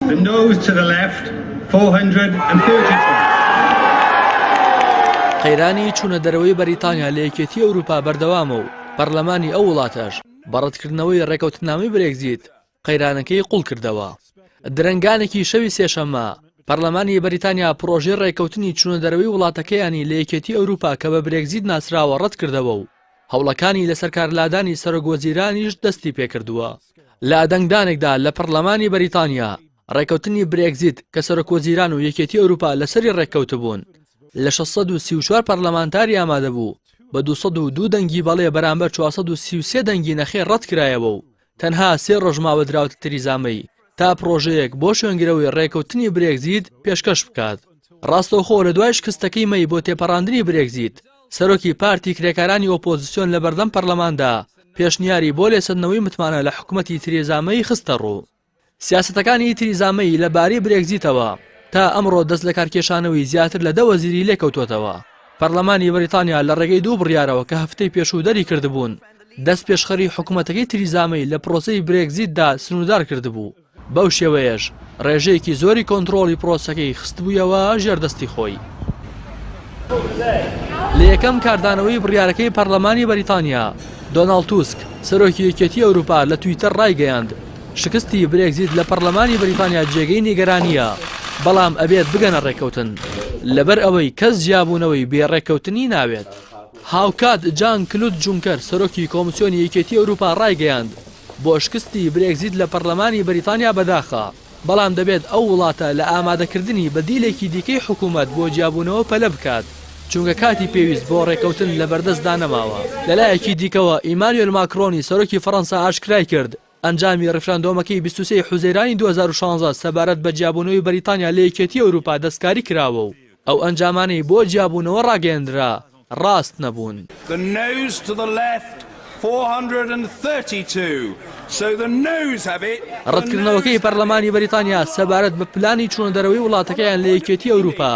The nose to the left 432. قەیرانی چوونە دەرەوەی بەریتانیا لە یەکێتی ئەوروپا بەردەوامە و پەرلەمانی ئەو وڵاتەش بە ڕەتکردنەوەی ڕێکەوتنامەی برێگزیت قەیرانەکەی قوڵ کردەوە. درەنگانێکی شەوی سێشەممە پەرلەمانی بەریتانیا پڕۆژەی ڕێکەوتنی چوونە دەرەوەی وڵاتەکەیانی لە یەکێتی ئەوروپا کە بە برێگزیت ناسراوە ڕەتکردەوە و هەوڵەکانی لەسەرکارلادانی سەرۆک وەزیرانیش دەستی پێکردووە. لە دەنگدانێکدا لە پەڕلەمانی بەریتانیا، ڕێککەوتنی برێگزیت کە سەرۆک وەزیران و یەکێتی ئەوروپا لەسەری ڕێککەوتبوون، لە شەش سەد و سی و چوار پەڕلەمانتاری ئامادەبوو، بە دوو سەد و دوو دەنگی بەڵێ بەرامبەر چوار سەد و سی و سێ دەنگی نەخێر ڕەتکرایەوە و تەنها سێ ڕۆژ ماوە دراوتە تریزا مەی تا پڕۆژەیەک بۆ شوێنگرەوەی ڕێکەوتنی برێگزیت پێشکەش بکات. ڕاستەوخۆ لە دوای شکستەکەی مەی بۆ تێپەڕاندنی برێگزیت، سەرۆکی پارتی کرێکارانی ئۆپۆزسیۆن لە بەردەم پەرلەماندا پێشنیاری بۆ لێسەندنەوەی متمانە لە حکومەتی تریزا مەی خستە ڕوو. سیاسەتەکانی تریزا مەی لە بارەی برێگزیتەوە تا ئەمڕۆ دەست لەکارکێشانەوەی زیاتر لە دە وەزیری لێکەوتووەتەوە. پەرلەمانی بەریتانیا لە ڕێگەی دوو بڕیارەوە کە هەفتەی پێشوو دەریکردبوون، دەستپێشخەری حکومەتەکەی تریزا مەی لە پرۆسەی برێگزیتدا سنووردار کردبوو، بەو شێوەیەش ڕێژەیەکی زۆری کۆنترۆڵی پرۆسەکەی خستبوویەوە ژێر دەستی خۆی. لە یەکەم کاردانەوەی بڕیارەکەی پەرلەمانی بەریتانیا، دۆناڵد توسک، سەرۆکی یەکێتی ئەوروپا لە تویتەر ڕایگەیاند، شکستی برێگزیت لە پەڕلەمانی بریتانیا جێگەی نیگەرانییە، بەڵام ئەبێت بگەنە ڕێککەوتن، لەبەر ئەوەی کەس جیابوونەوەی بێ ڕێککەوتنی ناوێت. هاوکات جان کلود جونکەر سەرۆکی کۆمسیۆنی یەکێتی ئەوروپا ڕایگەیاند، بۆ شکستی برێگزیت لە پەڕلەمانی بریتانیا بەداخە، بەڵام دەبێت ئەو وڵاتە لە ئامادەکردنی بەدیلێکی دیکەی حکومەت بۆ جیابوونەوە پەلە بکات، چونکە کاتی پێویست بۆ ڕێککەوتن لەبەردەستدا نەماوە. لەلایەکی دیکەوە ئیمانوێل ماکرۆنی سەرۆکی فەڕەنسا ئاشکرایکرد، ئەنجامی ڕیفراندۆمەکەی بیست و سێ ی حوزەیرانی دوو هەزار و شانزە سەبارەت بە جیابوونەوەی بەریتانیا لە یەکێتیی ئەوروپا دەستکاری کراوە و ئەو ئەنجامانەی بۆ جیابوونەوە ڕاگەیەندرا ڕاست نەبوون. ڕەتکردنەوەکەی پەرلەمانی بەریتانیا سەبارەت بە پلانی چوونەدەرەوەی وڵاتەکەیان لە یەکێتیی ئەوروپا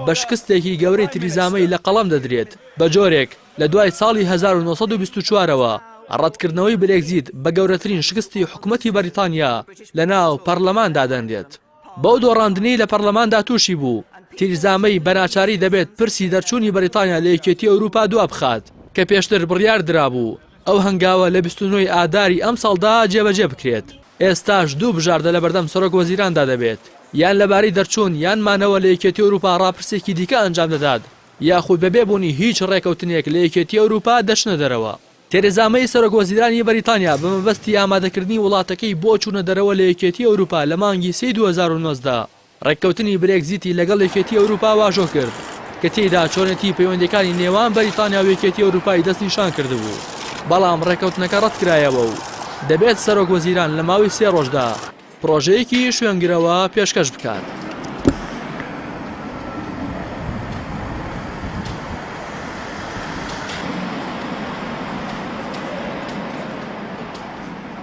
بە شکستێکی گەورەی تریزا مەی لە قەڵەم دەدرێت بە جۆرێک لە دوای ساڵی هەزار و نۆ سەد و بیست و چوار ەوە، ڕەتکردنەوەی برێگزیت بە گەورەترین شکستی حکومەتی بەریتانیا لە ناو پەرلەمان دادەنرێت. بەو دۆڕاندنەی لە پەرلەماندا تووشی بوو، تیرزا مەی بە ناچاری دەبێت پرسی دەرچوونی بەریتانیا لە یەکێتی ئەوروپا دوابخات، کە پێشتر بڕیار درابوو ئەو هەنگاوە لە بیست و نۆ ی ئاداری ئەمساڵدا جێبەجێ بکرێت. ئێستاش دوو بژاردە لەبەردەم سەرۆک وەزیراندا دەبێت، یان لەبارەی دەرچوون یان مانەوە لە یەکێتی ئەوروپا ڕاپرسێکی دیکە ئەنجام دەدات، یاخود بەبێ بوونی هیچ ڕێکەوتنێک لە یەکێتی ئەوروپا دەچنە دەرەوە. تێرێزا مەی سەرۆک وەزیرانی بەریتانیا بە مەبەستی ئامادەکردنی وڵاتەکەی بۆ چوونە دەرەوە لە یەکێتی ئەوروپا لە مانگی سێی دوو هەزار و نۆزدە ڕێککەوتنی برێگزیتی لەگەڵ یەکێتی ئەوروپا واژۆ کرد کە تێیدا چۆنێتی پەیوەندیەکانی نێوان بەریتانیا و یەکێتی ئەوروپای دەستنیشان کردبوو بەڵام ڕێکەوتنەکە ڕەتکرایەوە و دەبێت سەرۆک وەزیران لە ماوەی سێ ڕۆژدا پڕۆژەیەکی شوێنگرەوە پێشکەش بکات.